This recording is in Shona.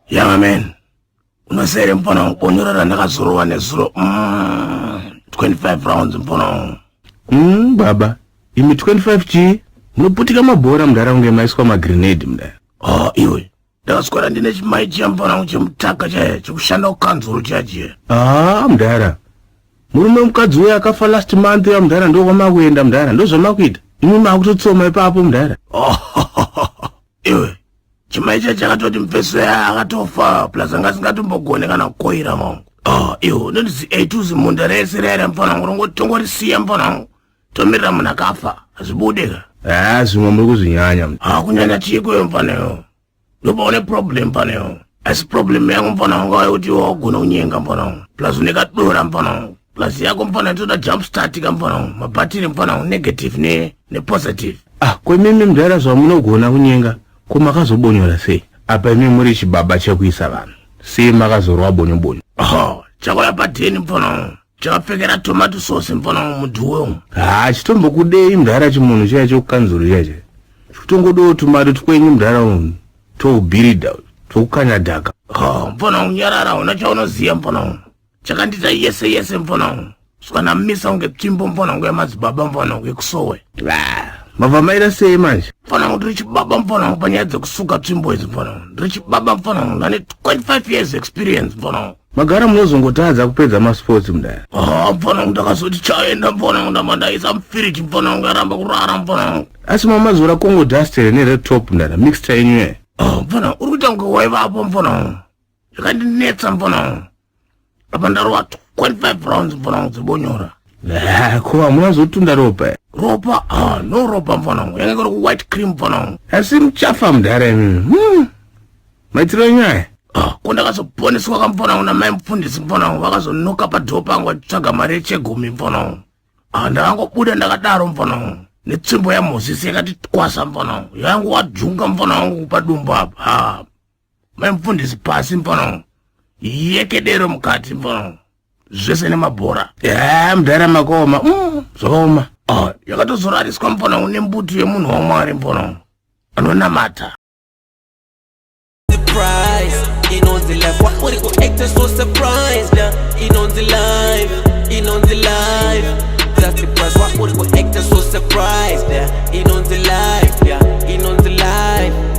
Young man, unosere mfana wangu bonyora randakazorova nezuro mm, 25 rounds mfana wangu. Mm, baba, imi 25 chii? Munoputika mabhora mudhara kunge maiswa magrenade mudhara. Oh, iwe. Ndakaswera ndine chimai chiya mfana wangu chemutaka chaiya chekushanda kukanzuru chiya chiya. Ah, mudhara. Murume mukadzi uya akafa last month ya mudhara ndokwamakuenda mudhara ndozvamakuita. Imi makutotsoma ipapo mudhara. Oh, iwe. chimai chai chakatoti mfeso yaya akatofa plus anga asingatombogone kana kukoira mangu ah, iwo nondizi eituzi munda rese raira mfana wangu rongoti tongorisiya mfana wangu tomirira munhu akafa hazvibude ka haa zvimwe muri kuzvinyanya ha ah, kunyanya chiikoyo mfana yo ndopaone problem mfana yo asi problem yangu mfana wangu ayo kuti iwo wagona kunyenga mfana wangu plus unekadora mfana wangu plus yako mfana toda jump start ka mfana wangu mabhatiri mfana wangu negative ne nepositive ah kwemimi mdara zvamunogona kunyenga ko makazobonyora sei apa imi muri chibaba chekuisa vanhu sei makazorwa bonyobonyo oh chakauya padheni mfana wangu chakapfekera tomato sauce mfana wangu mudhuwe umu haa chitombokudei mdara chimunhu chiya chekukanzuru chiya chiya chitongodewo tumato twenyu mdara unhu toubirida twekukanya dhaka oh mfana wangu nyarara hauna chaunoziva mfana wangu chakandiita yese yese mfanangu saka namisa kunge tsvimbo mfanangu yamadzibaba mfanangu yekusowe mabva maita sei manje mfanangu ndiri chibaba mfanangu panyaya dzekusuka tsvimbo idzi mfanangu ndiri chibaba mfanangu ndane 25 years experience mfanangu magara munozongotadza kupedza masports mudai ah, mfanangu ndakazoti chaenda mfanangu ndamandaisa mfiriji mfanangu yaramba kurara mfanangu asi mamazora kongo dustere nered top mdara mixta yenyu e ah, mfanangu uri kuita kunge waivapo mfanangu zvakandinetsa mfana wangu apa ndarova 25 rounds mfana wangu dzebonyora eh, ko hamuna zotunda ropa eh? ropa ah, no ropa mfana wangu yange kuri kuwhite cream mfana wangu asi muchafa mudhara imimi hmm. maitiro nyaya ah, ko ndakazoponeswa kamfana wangu namai mufundisi mfana wangu vakazonoka padhoo pangu vachitsvaga mari yechegumi mfana wangu ah, ndakangobuda ndakadaro mfana wangu netsvimbo yamozisi yakati twasa mfana wangu yangu wadzvunga mfana wangu kupadumbu apa mai mufundisi pasi mpono yekedero mukati mpono zvese nemabhora ya mudhara makaoma mm, zvakaoma ah, yakatozorariswa mpono une mbutu yemunhu wamwari mpono anonamata inonzi life wauri kuacta so surprised inonzi life inonzi life just the price wauri kuacta so surprised inonzi life yeah.